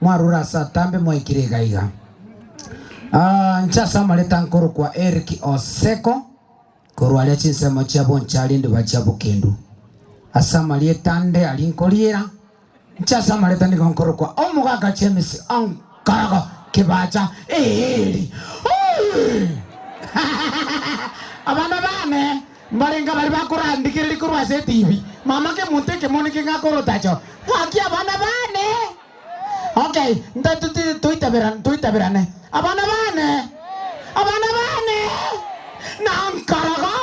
Mwarure ase atambe mwaikire iga iga. Aa, inche ase amareta nkorokwa Eric Oseko, korwa aria chinsemo chia bonchari ndiba chia bokendu. Ase amarieta ande aria nkoriera, inche ase amareta nigo nkorokwa Omogaka James Onkorogo Kibacha Eeri. Ooh! Abana baane, Mbarenge baria bakorandigereria korwa ase etibi, mama kemonto ekemo niki ngakorotacho? Gaki abana baane. Okay, ntatute toitaberane, toitaberane. Abana baane. Abana baane. Na nkorogo.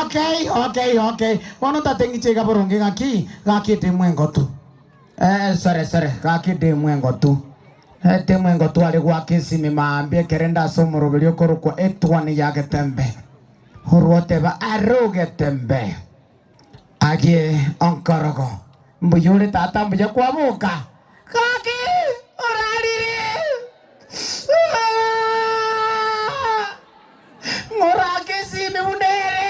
Okay, okay, okay. Bono ntate ng'iche iga boronge gaki, gaki etemu engotu. Eh, sore, sore, gaki etemu engotu. Etemu engotu are gwaki esimi maambia ekerende ase omoroberi okorokwa Etuani ya Getembe. Oroteba arogete mbe, agie onkorogo, mbuya ore tata mbuya kwaboka, gaki orarire ng'orake esimi buna ere.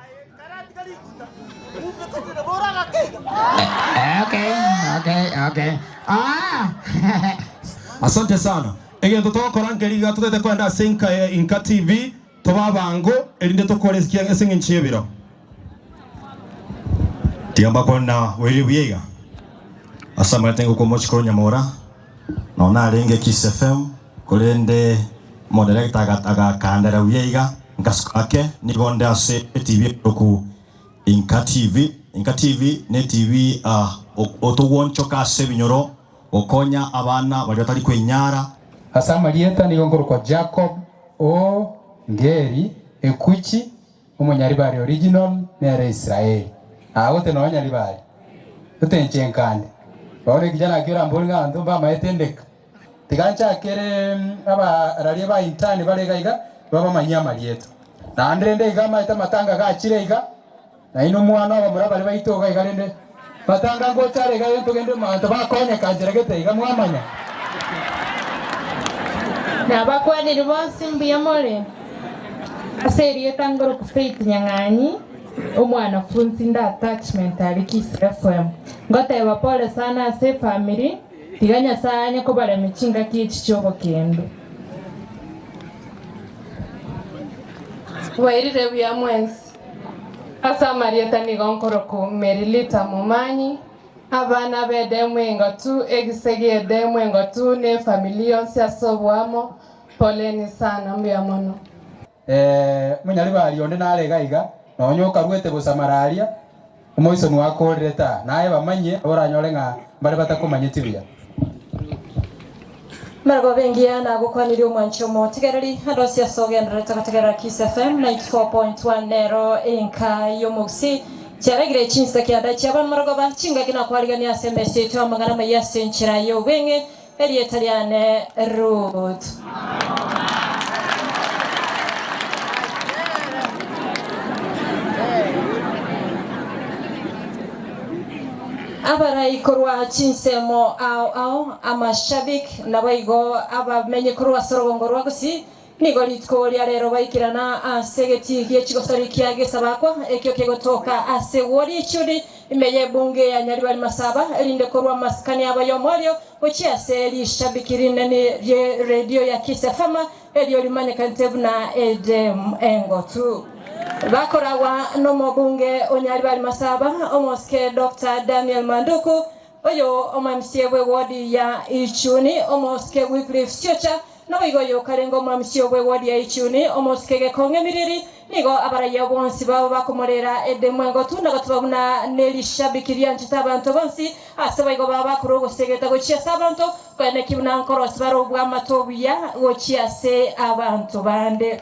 Asante sana. Egento togokora nkeri iga totaete koenda ase Inka ya Inka TV, tobe abango erinde tokore ase ekiagera ase eng'encho y'ebiro. Tiga mbakwane na oerio buya iga. Ase amaete ngokomochi korwa nyamora. Nonya narenge Kisefemu, korende omoderekita agakandera buya iga, nkasuka ake, nigo onde ase etibi enyoroku Inka TV. Inka TV netibi otogwonchoka ase ebinyoro, gokonya abana baria batari kwenyara. Ase amarieta nigo nkorokwa Jacob o Ngeri, Ekuchi. Omonyaribari original nere Israeli. Aa gote na onyaribari. Gote inche nkande. Bono ekijana ekio orambore ng'a abanto mbamaete ndeka. Tiga nchakere abararia ba intern bare iga iga babamanyie amarieto. Naende rende iga amaete amatanga gachire iga. Nainwe mwane abamura bare baito iga iga rende. Batanga gocha are igaiga ntogende manto bakonyeka nchera gete iga mwamanya. Nabakwanire bonsi mbuya more. Ase erieta ngoroku Faith Nyang'anyi, omwanafunsi inde attachment aria Kisii FM, ngoteeba pole sana ase efamiri, tiga Nyasaye anye kobaremia chingaki echi chi'obokendo. Mbairire buya mwensi. Ase amarieta nigo nkoroku Merilita momanyi, abana b'edemu engotu, egise gi'edemu engotu, ne efamili yonsi ase oboamo, Poleni sana. Mbuya mono. Ee, monyaribari onde narega iga, nonya okaruete bosa mararia. Omoisoni gwakoorire ta naye bamanye, nabo oranyore ng'a mbare batakomanyeti buya. Maragoba engiya nagokwanire omwanche omotigereri, Adosi ase ogendererete gotegerera Kiss FM 94.1 nero enka y'omogusii. Chiaragire chinseke adachi abana maragoba chingaki nakwariganire ase emesa yaito amang'ana amaya ase enchera y'obweng'e Erieta riane Ruth. Abarai korwa chinsemo ao ao, amashabik, naboigo abamenyi korwa as'orogongo rwa gusii, Nigo rituko ria reero baikirana ase egetii gie chigosori kia Gesabakwa, ekio kegotoka ase Wodi y'Echiundi, ime y'Ebunge ya Nyaribari Masaba, erinde korwa amasikani abo ayomo ario gochia ase rishabiki rinene rie redio ya Kiss FM, erio rimanyekanete buna Edem Engotu. Bakoragwa n'omobunge o Nyaribari Masaba, omosike Doctor Daniel Manduku, Oyo omwamisio bw'egodi ya Ichuni, omosike Wycliffe Siocha, naboigo oyo okarenge omwamisio bw'egodi ya Ichuni, omosike Gekong'e Miriri, nigo abarayia bonsi babo bakomorera edemu engotu na gotiba buna nerishabiki rianchete abanto bonsi, ase baigo baba bakorwa ogosegeta gochia ase abanto, koyana ki buna nkorosi bare obwamato obuya gochia ase abanto bande.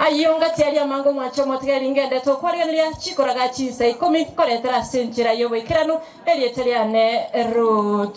Ayio ngati aria amango mwanche omotigeri ngendete okwarigereria chikoraga chinsa ikomi nkoretera ase enchera y'oboikeranu erieta riane Ruut.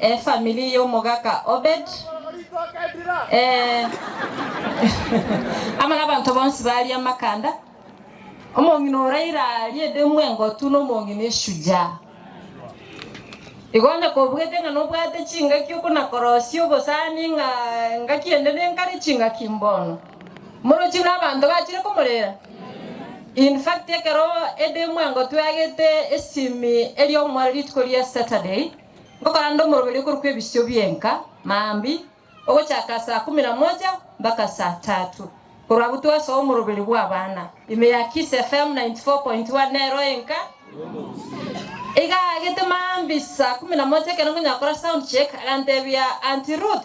Efamiri y'omogaka Obed, amo nabanto bonsi baaria amakanda, omong'ina o Raira aaria edemu engotu na omong'ina esuja. Igo onye kobugete ng'a nobwate chingaki okonakorosia obosani ng'a engaki ende nenkare chingaki mbono. Morochi buna abanto bachire komorera. In fact ekero ede mwango tweagete esimi eria omwore rituko ria Saturday, ngokaranda omoroberi okorokwa ebisio bi'enka, maambia, ogochaka saa kumi na moja mpaka saa tatu. Korwa abwo twasoa omoroberi bw'abana. Ime ya Kiss FM 94.1 nero enka. Iga aagete maambia saa kumi na moja ekero nkonyara gokora sound check, agantebia, Auntie Ruth,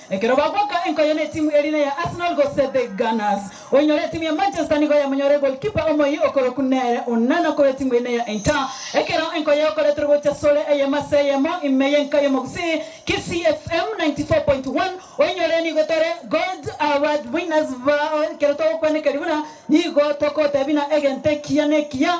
Ekero bagoka enkoyo netimu erina ya Arsenal gose The Gunners, oinyore etimu ya Manchester nigo yamonyore goalkeeper omoyio okorokwa nere Onana korwa etimu erina ya Inter. Ekero enkoyo yakoretwe gocha sore eyemo ase eyemo ime y'enka y'omogusii, KCFM 94.1, oinyore nigo tore Gold Award winners bao ekero togokwanekeri buna nigo tokotebina egento ekiya nekiya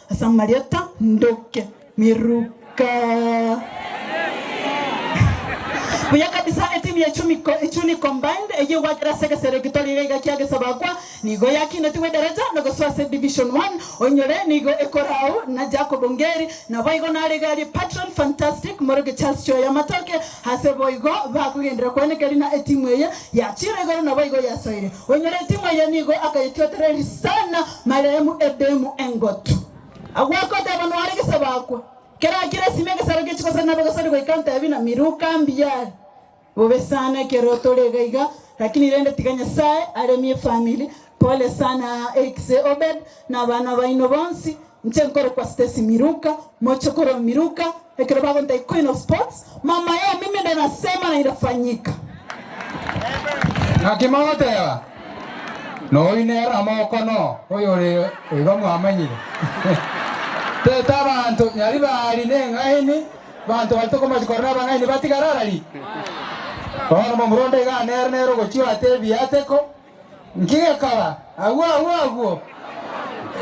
Ase amarieta ndoke miruka. Buya kabisa etimu ya Chumiko, Ichuni Combined eyio gwakera ase egesero egito riga iga kia Gesabakwa nigo yakindetigwe edaraja na gosoa ase Division One. Oinyore nigo ekora au na Jacob Ongeri naboigo narege aria Patron Fantastic morokia Charles Choya Matoke ase boigo bakogenderera koeneka erina etimu eye yachire igoro naboigo yasoire. Oinyore etimu eye nigo akayetiotereria sana. Maremu Edemu engotu. Agwo akoteba noare gesabo akwa. Kera kera sime egesaro gechi gosari nabo gesori goika ntebi na miruka mbiyare. Bobe sana ekero tore iga iga lakini rende tiga Nyasaye aremie efamili. Pole sana Eric se Obed na abana baino bonsi. Inche nkorokwa Stacy Miruka. Moche korwa Miruka. Ekero bagontaki Queen of Sports, mama yao mimi ndio nasema na inafanyika. Naki mogoteba, Noyu nere amoko no oyore igo mwamanyire. Tete abanto nyari baari neng'aini, abanto baria tokomanya kore nabang'aini batigara arari. Bono momura onde iga nere nere ogochia oate ebiateko. Nkigekora agwo agwo agwo,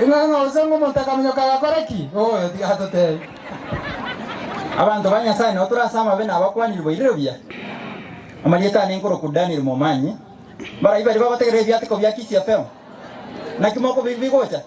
ing'ang'a gose ng'a omonto akaminyoka agakora ki? Ooyo, tiga atotebi. Abanto ba Nyasae nao tore ase amabe nabakwanire boirire buya. Amarieta aane nkorokwa Daniel Momanyi. Mbarai baria bagotegerera ebiatiko bia Kisiapeo? Naki mokobigwa bigocha?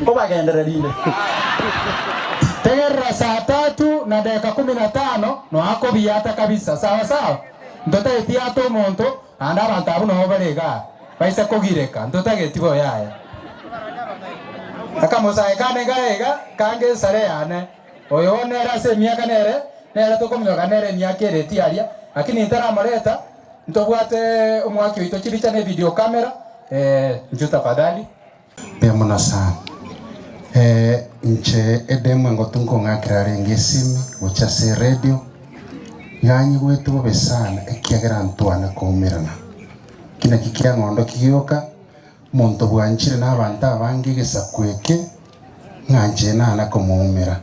Nkobagenderera inde. Tegerera saa tatu na dakika kumi na tano noa kobiata kabisa, sawa sawa? Ntotageti ata omonto, naende abanto abwo nabo bare iga baise kogireka, ntotageti bo yaya. Akamosae kane gaye iga, kange esare yane, oyo bono nere ase emiaka nere, nere tokominyoka nere emiaka ere etiaria, lakini ntaramoreta. Ntobwate omwaki oito chiricha ne video camera eeh nju tafadhali. Mbuya mono sana. Eeh inche edemo engotu nkong'akera arenge esimi gochia ase eredio, iga nyigwete bobe sana ekiagera ntwane koumerana. Eki nakio kiang'ondokia gioka, monto bwanchire na abanto abange egesaku eke. Ng'anche naana komoumera.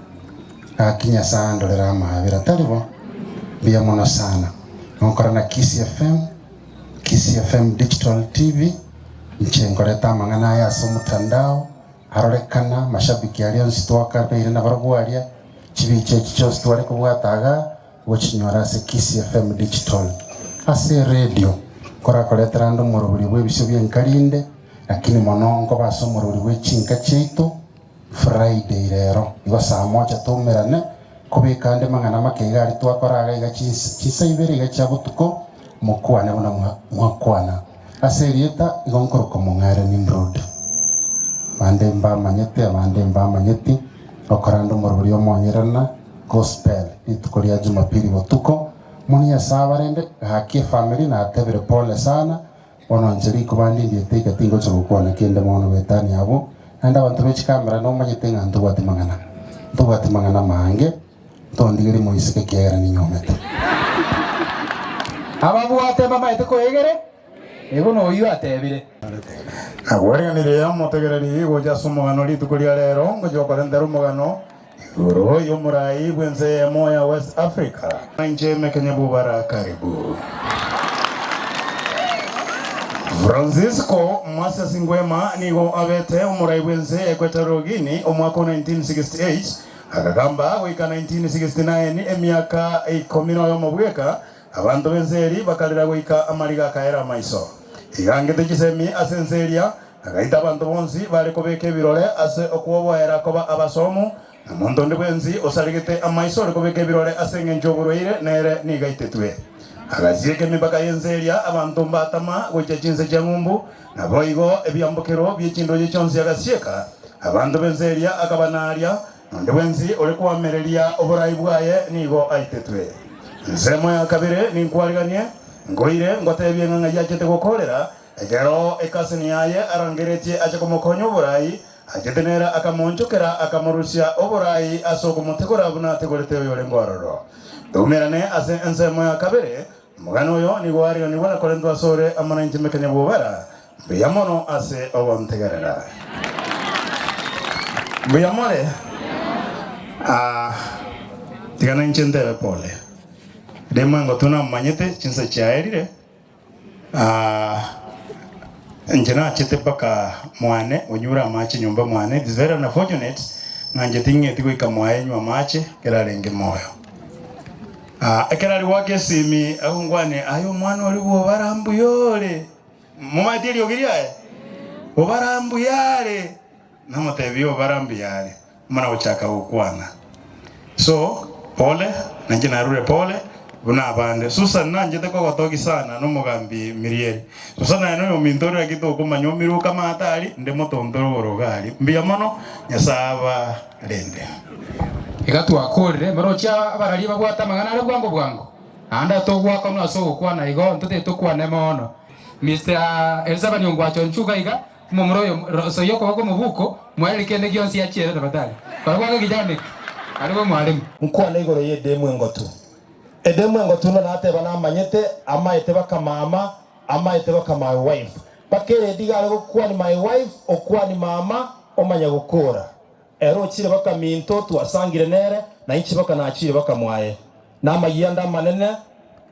Gaki Nyasae andorere amaabera tari bo. Mbuya mono sana. Nonkora na Kisii FM, Kisii FM Digital TV, inche nkorete amang'ana aya ase omotandao, arorekana, mashabiki aria onsi twakarwaire nabarobwo aria, chibiicha echi chionsi tware kobwata igaa, Gochinyora ase Kisii FM Digital ase eredio nkorakoretera ande omoroberio bw'ebisio bi'enka rinde, lakini mono nkoba ase omoroberio bwe chinka chiaito. Friday rero igo saa moja twaumerane kobeka ande mang'ana make iga aria twakora iga iga chinsa chinsa ibere iga chia botuko mokwane buna mwa mwakwana. Ase erieta igo nkoroka Mong'are Nimrod. Bande mbamanyete abande mbamanyeti, ngokora ande omoroberio omonyerena. Gospel, Rituko ria Jumapili botuko, Moni ase abarende, Gaki efamiri natebire pole sana, bono inche riko bandindiete iga tingocha gokwana kende mono Betania abwo naende abanto be chikamera nomanyete ng'a ntobwati mang'ana. Ntobwati mang'ana mange, ntondigerie moiseke ekiagera ninyomete. Ababwate mbamaete koegere, ego noyio atebire. Nagwereanirie omotegereri gocha ase omogano rituko ria reero, ngochia okorentera omogano. Igoro y'omorai bw'ense eyemo ya West Africa. Inche emekenya bubara karibu. Francisco Moses Nguema nigo abete omorai bw'ense ya Equatorial Guinea omwaka o 1968 agagamba goika 1969 emiaka ikomi noyomo bweka abanto b'ense eria bakarera goika amariga akaera amaiso. Igangete chisemi ase ense eria Agaita abanto bonsi baare kobeka ebirore ase okwoboera koba abasomu, na monto onde bwensi osaregete amaiso ore kobeka ebirore ase engencho y'oborwaire, nere nigo aitetwe. Agasieka emepaka y'ense eria abanto mbatama gochia chinse chia ng'umbu, naboigo ebiambokero bie chindoche chionsi agasieka abanto b'ense eria akabanaaria, na onde bwensi ore koamereria oboraai bwaye nigo aitetwe. Ensemo ya kabere ninkwariganie, nkoire, ngoteebie ng'a ng'aiachete gokoorera, Ekero ekasini yaye arangeretie ache komokonya oborai, achete nere akamoonchokera, akamorusia oborai ase okomotigora buna atigorete oyorenge ororo. Eumerane ase ensemo ya kabere, omogani oyo nigo ariganigwe na korentwa asore amo nenchemekania bw'obara, Mbuya mono ase ogontegerera. Mbuya more, aa, tiga nainche ntebe pole, rimo engotuna omanyete chinsa chiaerire. Aah, inche nachete mpaka mwane onyure amache nyomba mwane, it is very unfortunate ng'a inche ting'eti goika mwaye enywe amache ekero arenge moyo. Aah, ekero ari goaka esimi agwo ngwane aye omwana oria bwa obara mbuya ore, momaeti eriogi riaye? Obara mbuya are. Namoteebie obarambe yaare, buna gochaka gokwana. So, pole, nainche narure pole buna abande. Susan nanchete kogotogi sana nomogambi Mirieri. Susan aye noyo ominto oria gaki tokomanya omiruka amaate aria, nde motonto igoro iga aria. Mbuya mono, Nyasae abarende. Iga twakoorire, emerochi ya abararia babwate amang'ana aria bwango bwango, naende atogoakanwa ase ogokwana igo, intwe titokwane mono. Mister Elizabeth Ongwacho Nchuga iga Omomura oyo rosa y'okoba kw'omobuko moye ere kende gionsi achiere Nabatali, barabwo abe egechaano eke, arebe omwaremu. Nkwane igoro y'edemu engotu. Edemu engotu none ateba namanyete amaete baka mama amaete baka my wife baka eredi gare gokwani my wife okwani mama omanya gokora. Ere ochire baka minto twasangire nere, na inche baka nachire baka mwaye, na amayia ande amanene,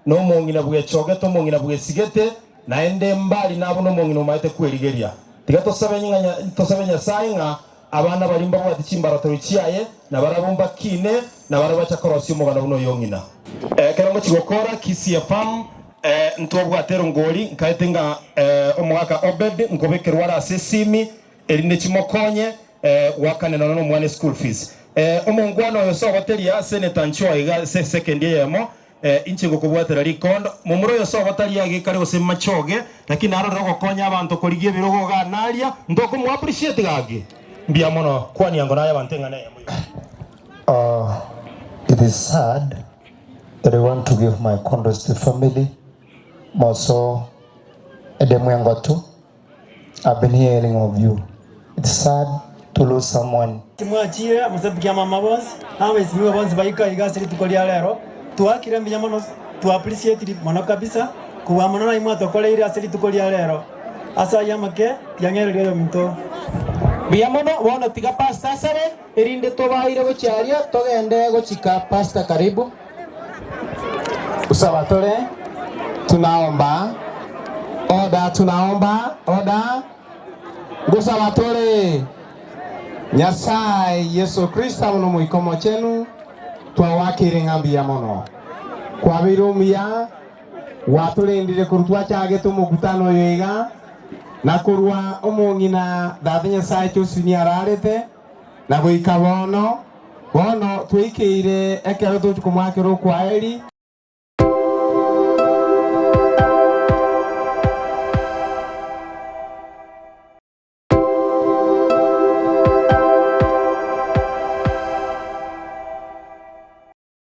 na omong'ina bwechogete, omong'ina bwesigete, naende mbari nabo nomong'ina omaete kwerigeria. Tiga tosabe ng'a tosabe Nyasae ng'a abana baria mbabwate chimbaratero chiaye, na barabwo mbakiine, na barabwo bacha korosia omoganda buna oyong'ina. Ekero ngochi gokora Kisii Efamu, ntobwate erongori, nkaete ng'a omogaka Obedi nkobekerwa are ase esimi, erinde chimokonye goakana nono nomwana eschool fees. Omonkwana oyo sogoteria ase netanchi oye iga ase esekendi eyemo, Inche ngokobwatera rikondo. Momura oyo sogotari age kare gose machoge, lakini narorire ogokonya abanto korigia ebirogo igaa naria, ntoko mo appreciate gaki? Mbuya mono. Kwania ngo naye abanto eng'ana eyemo iga. Ohh it is sad but I want to give my condols to family moso edemu engotu. I've been hearing of you, it's sad to lose someone. Timwachire amasebuki amama bonsi na abaisimiwa bonsi baika iga ase rituko ria rero. Twakire mbuya mono to appreciate mono kabisa kobua mono naye mwatokoreire ase rituko ria rero ase ayio amake ya ng'ereri oyominto. Mbuya mono, bono tiga pastor asabe. Erinde tobaire gochia aria, togende gochika Pasaka karibu. Gusaba tore, tunaomba, oda, tunaomba, oda, gusaba tore. Nyasae, Yeso Kristo amo n'Omoika Omochenu, twagoakeire ng'a mbuya mono. Kwabeire omuya. Gwatorendire korwa twachagete omokutano oyo iga, na korwa omong'ina Tata Nyasae Josuni ararete, na goika bono. Bono tweikeire ekero tochia komoakera okwaheri.